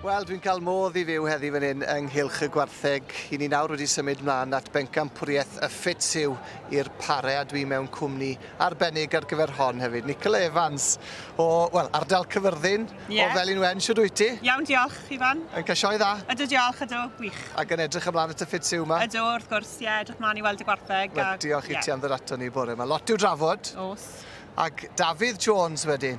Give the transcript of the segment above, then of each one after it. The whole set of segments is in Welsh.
Wel, dwi'n cael modd i fyw heddi fan hyn yng Nghylch y Gwartheg. I ni nawr wedi symud mlaen at bencampwriaeth y Ffits yw i'r Pare a dwi mewn cwmni arbennig ar gyfer hon hefyd. Nicola Evans o, wel, ardal Cyfyrddin yeah. o Felin Wen, siwr wyt ti? Iawn, diolch, Ifan. Yn cael sioe dda? Ydw, diolch, ydw, wych. Ac yn edrych ymlaen at y Ffits yw yma? Ydw, wrth gwrs, ie, yeah, edrych mlaen i weld y Gwartheg. Wel, diolch i yeah. ti am ddod ato ni bore yma. Lot i'w drafod. Os. Ac Dafydd Jones wedyn.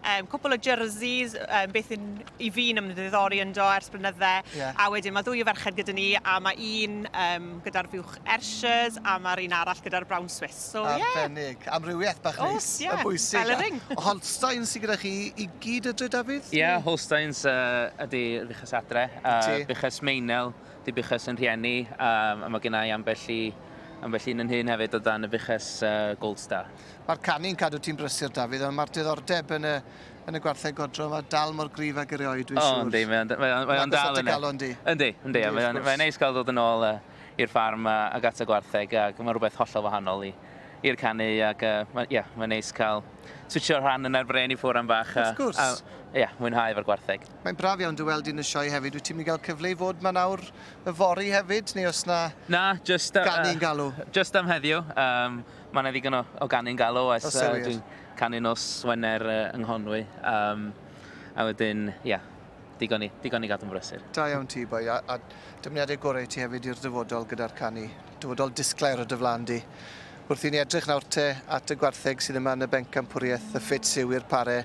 um, cwpl o jerseys, um, beth yn, i fi'n ymddiddori ynddo ers blynydde. Yeah. A wedyn mae ddwy o ferched gyda ni, a mae un um, gyda'r fiwch Ershers, a mae'r un arall gyda'r Brown Swiss. So, Arbennig. Yeah. Amrywiaeth bach neis. Os, ie. Yeah. Yn bwysig. Fel y ring. Holstein sy'n gyda chi i gyd y dre, David? Ie, yeah, Holsteins uh, ydy Buchas Adre. Uh, Buchas Meinel, di Buchas yn rhieni, um, a mae gennau ambell i ambell un yn hyn hefyd o dan y fuches uh, Gold Star. Mae'r canu'n cadw ti'n brysur, Dafydd, ond mae'r diddordeb yn y, yn y gwartheg godro yma dal mor gryf ag erioed, dwi'n siŵr. O, yndi, mae o'n, mae o'n, mae o'n dal yna. Yndi, yndi, yndi, mae o'n, mae neis cael dod yn ôl uh, i'r ffarm a, ac at y gwartheg, ac mae rhywbeth hollol wahanol i, i'r canu, ac uh, mae, yeah, mae neis cael switcho rhan yna'r bren i ffwr am bach. A, Wrth gwrs. A, ie, yeah, mwynhau efo'r gwartheg. Mae'n braf iawn dy weld i'n y sioe hefyd. Wyt ti'n mynd i gael cyfle i fod ma nawr y fori hefyd, neu os na... Na, just... Uh, Gan i'n galw. Just am heddiw. Um, Mae yna ddigon o, o ganu'n gael o, oes. Uh, dwi'n canu nos Wener uh, yng Nghonwy. Um, a wedyn, ia, yeah, digon i, digon i gadw'n brysur. Da iawn ti, boi, a, a dymuniadau gorau ti hefyd i'r dyfodol gyda'r canu. Dyfodol disglair o dy flan di. Wrth i ni edrych nawr te at y gwartheg sydd yma yn y bencampwriaeth, y ffit syw i'r pare,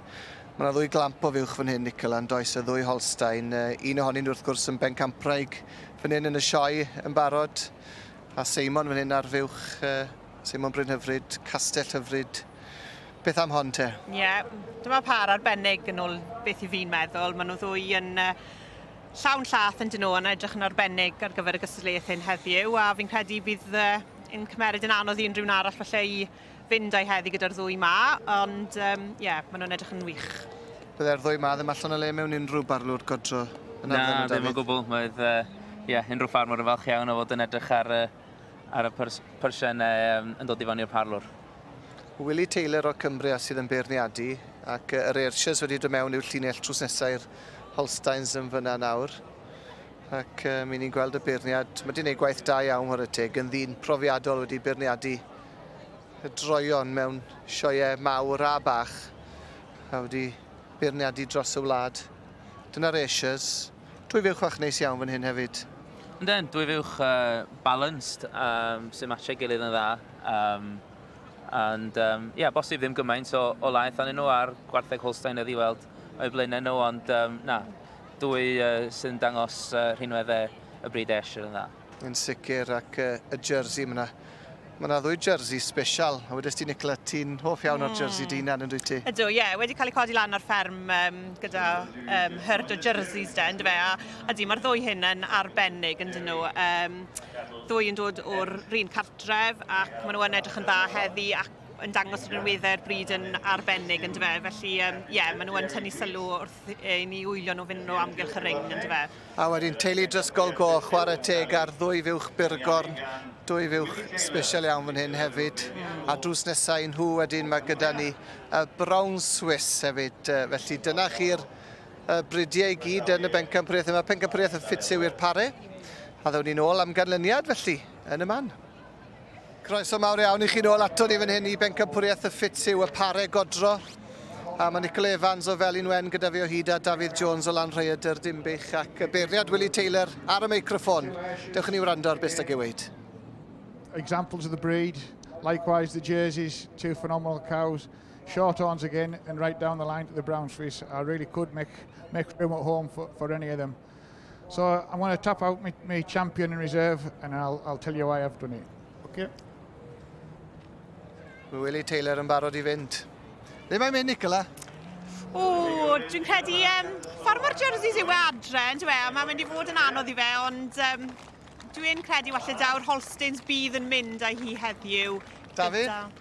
Mae yna ddwy glamp o fuwch fan hyn, Nicol, a'n does y ddwy Holstein. Un ohonyn wrth gwrs yn bencampwraig fan hyn yn y sioe yn barod. A Seimon fan hyn ar fuwch, Seimon Bryn Hyfryd, Castell Hyfryd. Beth am hon te? Ie, yeah. dyma par arbennig yn ôl beth i fi'n meddwl. Maen nhw ddwy yn uh, llawn llath yn dyn nhw yn edrych yn arbennig ar gyfer y gystadleuaeth hyn heddiw a fi'n credu bydd uh, yn cymeryd yn anodd i unrhyw'n arall falle i fynd a'i heddi gyda'r ddwy 'ma, ond yym ie, maen nhw'n edrych yn wych. Bydde'r ddwy 'ma ddim allan o le mewn unrhyw barlwr godro yn arddel nhw, Dafydd? Na, ddim o gwbl. Mae'r yy ie, unrhyw ffarmwr yn falch iawn o fod yn edrych ar y ar y pyrs, pyrsiau yn dod i fan i'r parlwr. Willie Taylor o Cumbria sydd yn beirniadu ac yr Ayrshires wedi dod mewn i'w llinell trws nesaf i'r Holsteins yn fyna nawr. Ac um, i ni'n gweld y beirniad, mae wedi gwneud gwaith da iawn ar y teg, yn ddyn profiadol wedi beirniadu y droeon mewn sioe mawr a bach a wedi beirniadu dros y wlad. Dyna'r Ayrshire's. Dwy fuwch fach neis iawn fan hyn hefyd. Yndyn, dwy fuwch uh, balanced, um, sy'n matchau gilydd yn dda. Um, and, um, yeah, bosib ddim gymaint o, o laeth anyn nhw ar gwartheg Holstein oedd i weld o'i blaenau nhw, ond um, na, dwy uh, sy'n dangos uh, rhinweddau y bryd Ayrshire yn dda. Yn sicr, ac uh, y jersey, mae yna Mae yna ddwy jersey special, a wedys ti Nicola, ti'n hoff iawn o'r jersey hmm. dynan yn dwi ti? Ydw, ie, yeah. wedi cael ei codi lan o'r fferm um, gyda um, hyrd o jerseys de, ynddo fe, a, a di, mae'r ddwy hyn yn arbennig yn dyn nhw. Um, ddwy yn dod o'r rhan cartref ac maen nhw yn edrych yn dda heddi ac yn dangos rhywun weddau'r bryd yn arbennig yn dyfe. Felly, ie, um, yeah, maen nhw yn tynnu sylw wrth i ni wylio nhw fynd nhw amgylch y ring yn dyfe. A wedyn teulu Drisgol Goch, chwarae teg ar ddwy fuwch byrgorn, dwy fuwch special iawn fan hyn hefyd. A drws nesau nhw wedyn mae gyda ni y Brown Swiss hefyd. Felly dyna chi'r bridiau i gyd yn y bencampwriaeth yma. Pencampwriaeth yn ffit siw i'r pare. A ddewn ni'n ôl am ganlyniad felly, yn y man. Croeso mawr iawn i chi nôl ato ni fan hyn i Bencampwriaeth y Ffit Siw, y pare godro. A mae Nicol Evans o Felin Wen gyda fi o hyd a Dafydd Jones o Lan Rhaeadr, Dinbych ac y beirniad Willie Taylor ar y meicroffon. Dewch i ni wrando ar beth sy'n ei weid. Examples of the breed, likewise the jerseys, two phenomenal cows. Short horns again and right down the line to the brown Swiss. I really could make, make room at home for, for any of them. So I'm going to tap out my, my champion in reserve and I'll, I'll tell you why I've done it. Okay. Mae Willie Taylor yn barod i fynd. Ddim mae'n mynd, Nicola. O, dwi'n credu, um, ffordd mae'r jerseys yw e adre, yn dwi e? Mae'n mynd i fod yn anodd i fe, ond um, dwi'n credu falle daw'r Holstins bydd yn mynd â hi heddiw. Dafydd?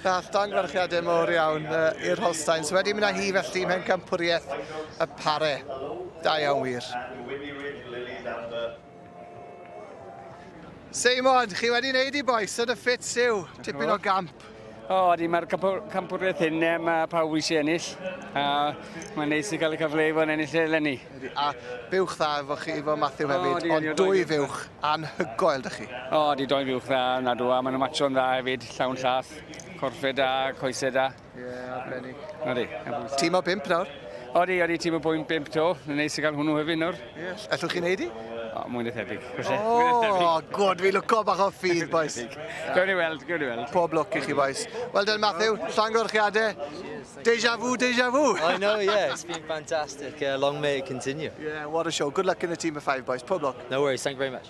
Daeth danglwarchiadau mawr iawn i'r Holsteins wedi mynd â hi felly i Mhencampwriaeth y Pare. Da iawn wir. Seimon, chi wedi wneud i bois yn y ffit siw, tipyn o gamp. O, ydy, mae'r campwriaeth hyn, e, mae pawb eisiau ennill. A mae'n neis i cael y cyfle i fod yn ennill eleni. A buwch dda efo chi, efo Matthew hefyd, ond dwy fuwch anhygoel, dych chi? O, ydy, dwy fuwch dda, nad o, a maen nhw'n matcho'n dda hefyd. Llawn llath, corffed da, coesau da. Ie, yeah, arbennig. Odi. Tîm o bimp nawr? Odi, odi, tîm o bwyn bimp to. Yn neis i gael hwnnw hefyd nawr. Ie, yeah. allwch chi'n neud i? O, mwyn y thebyg. O, oh, gwrdd, fi lwco bach o ffydd, boys. Gawn ni weld, gawn ni weld. Pob lwc i chi, boys. Wel dyn, Matthew, llongorchiadau. Deja vu, deja vu. I know, yeah, it's been fantastic. Uh, long may it continue. Yeah, what a show. Good luck in the team of five, boys. Pob lwc. No worries, thank you very much.